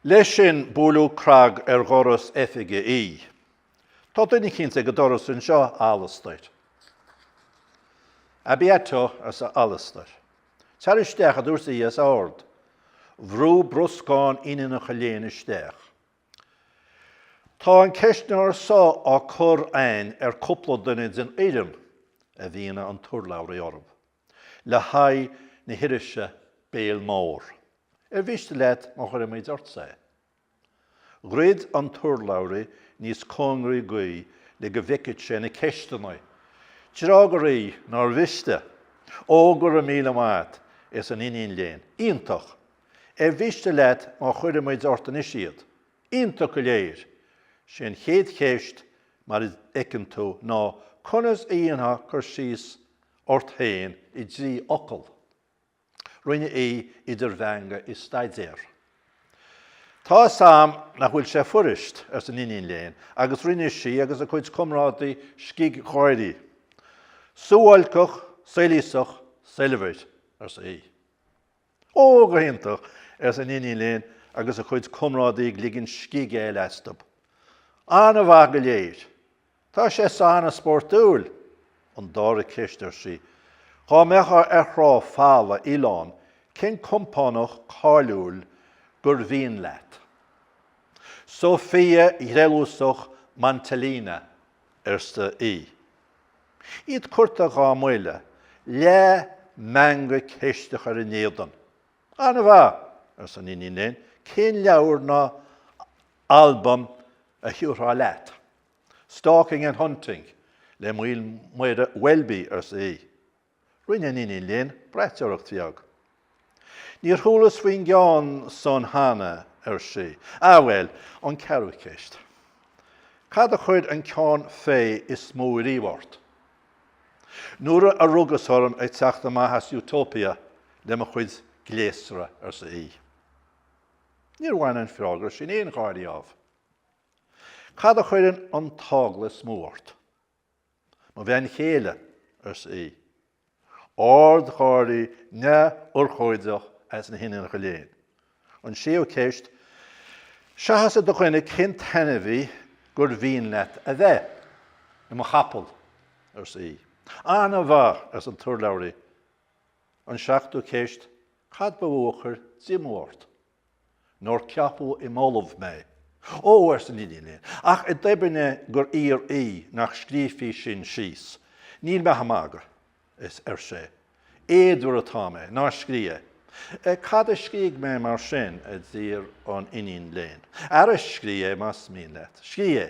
Leis sin buaileadh crag ar dhoras oifige Aodha. Tá duine eicínt ag an doras anseo, a Alastair. À bientôt, arsa Alastair. Tar isteach, a dúirt Aodh os ard. Bhrúigh bruscán iníonacha léinn isteach. Tá an ceistneoir so á chur againn ar cúpla duine den fhoireann a mhínigh an t-urlabhraí orthu. le haghaidh na hirise Béal Mór. Ar mhiste leat má chuirimid ortsa é? Dhruid an t-urlabhraí níos cóngaraí dh'Aodh le go bhfeicfeadh sé na ceisteanna. D'fhreagair Aodh nár mhiste. Ó, go raibh míle maith agat, arsa an iníon léinn. Iontach! Ar mhiste leat má chuirimid ort anois iad? Iontach go léir! Sé an chéad cheist, mar a fheiceann tú, ná conas a dhéanfá cur síos ort féin i dtrí fhocal. Rinne Aodh idir mheangadh is staidéar. Tá's a'm nach bhfuil sé fuirist, arsa an iníon léinn, agus rinne sí agus a cuid comrádaí scig-gháirí. Suáilceach, soilíosach, soilbhir, arsa Aodh. Ó, go hiontach! arsa an iníon léinn agus a cuid comrádaí ag ligean scig eile astu. An-mhaith go léir! Tá sé san an-spórtúil! An dara ceist, ar sí, Dhá mbeifeá ar thrá folamh oileáin, cén compánach cáiliúil gur mhian leat? Sophia threallúsach Mantellina, arsa Aodh. Iad curtha dhá mbuille, leathmheangadh ceisteach ar a n-éadan. An-mhaith! arsa an iníon léinn, cén leabhar ná albam a thiúrfá leat? Stalking and Hunting le Maolmhuire Welby, arsa Aodh. Rinne an iníon léinn braiteoireacht bheag. Níor chualas faoin gceann san cheana, ar sí. Ah bhuel, an ceathrú ceist. Cad a chuir an ceann fé is mó riamh ort? Nuair a rugas orm ag teacht amach as Utopia le mo chuid gléasra, arsa Aodh. Níor bhain an freagra sin aon gháire ámh. Cad a chuireann an t-eagla is mó ort? Mo bhean chéile, arsa Aodh, ardgháirí neamhurchóideach as na hiníonacha léinn. An séú ceist, seachas i do dhuine cén t-ainmhí gur mhian leat a bheith i mo chapall, arsa Aodh. An-mhaith, arsa an t-urlabhraí. An seachtú ceist, cad ba mhó a chuir díomá ort? Nár ceapadh i m'ollamh mé. Ó, arsa an iníon léinn, ach i dtoibinne gur iarr í nach scríofaí sin síos. Níl mé ach ag magadh, ar sé. Éadmhar atá mé. Ná scríobh é. Cad a scríobhfaidh mé mar sin? a d'iarr an iníon léinn. Ara, scríobh é más mian leat. Scríobh é.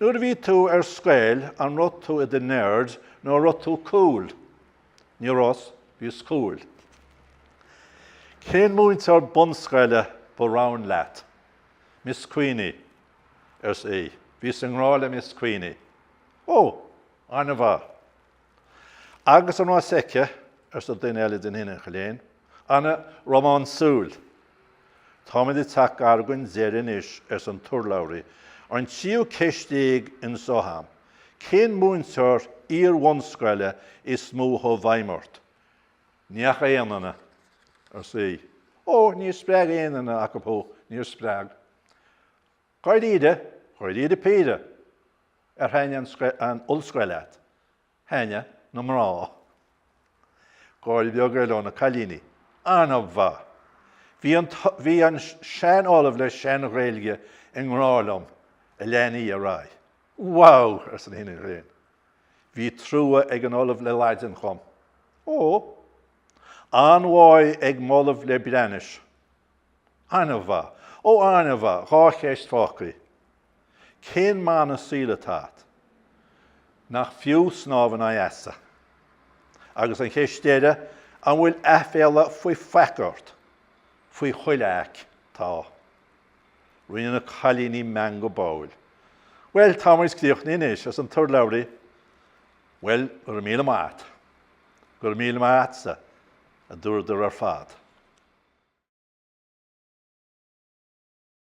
Nuair a bhí tú ar scoil an raibh tú i do nerd nó an raibh tú cúl? Ní rabhas, bhíos cúl. Cén múinteoir bunscoile ba roghain leat? Miss Queenie, arsa í. Bhíos i ngrá le Miss Queenie. Ó! An-mhaith. Agus an rás fheicthe, arsa duine eile de na hiníonacha léinn, an-rómánsúil. Táimid ag teacht gar dhon deireadh anois, arsa an t-urlabhraí, an tríú ceist déag anseo a'm, cén múinteoir iar-bhunscoile is mó a chuaigh i bhfeidhm ort? Ní dheachaigh aon duine, arsa í. Ó, níor spreag aon duine acu thú, níor spreag. Dháiríre, dháiríre píre! Ar thaitnigh an ollscoil leat? Thaitnigh na mná. Gáire beag eile ó na cailíní. An-mhaith! Bhí an sean-ollamh le sean-Ghaeilge i ngrá liom, a lean í ar aghaidh. Wow! arsa na hiníonacha léinn. Bhí trua ag an ollamh le Laidin dhom. Ó! An-mhaith ag m'ollamh le Breathnais. An-mhaith! Ó an-mhaith! Dhá cheist fágthaí. Cén mana saoil atá a't? Nach fiú snámh in aghaidh easa? Agus an cheist deireadh, an bhfuil aiféala faoi faic ort? Faoi chuile fhaic, tá. Rinne na cailíní meangadh báúil. Bhuel, tá muid críochnaithe anois, arsa an t-urlabhraí. Bhuel, go raibh míle maith a't. Go raibh míle maith a'tsa. a dúradar ar fad.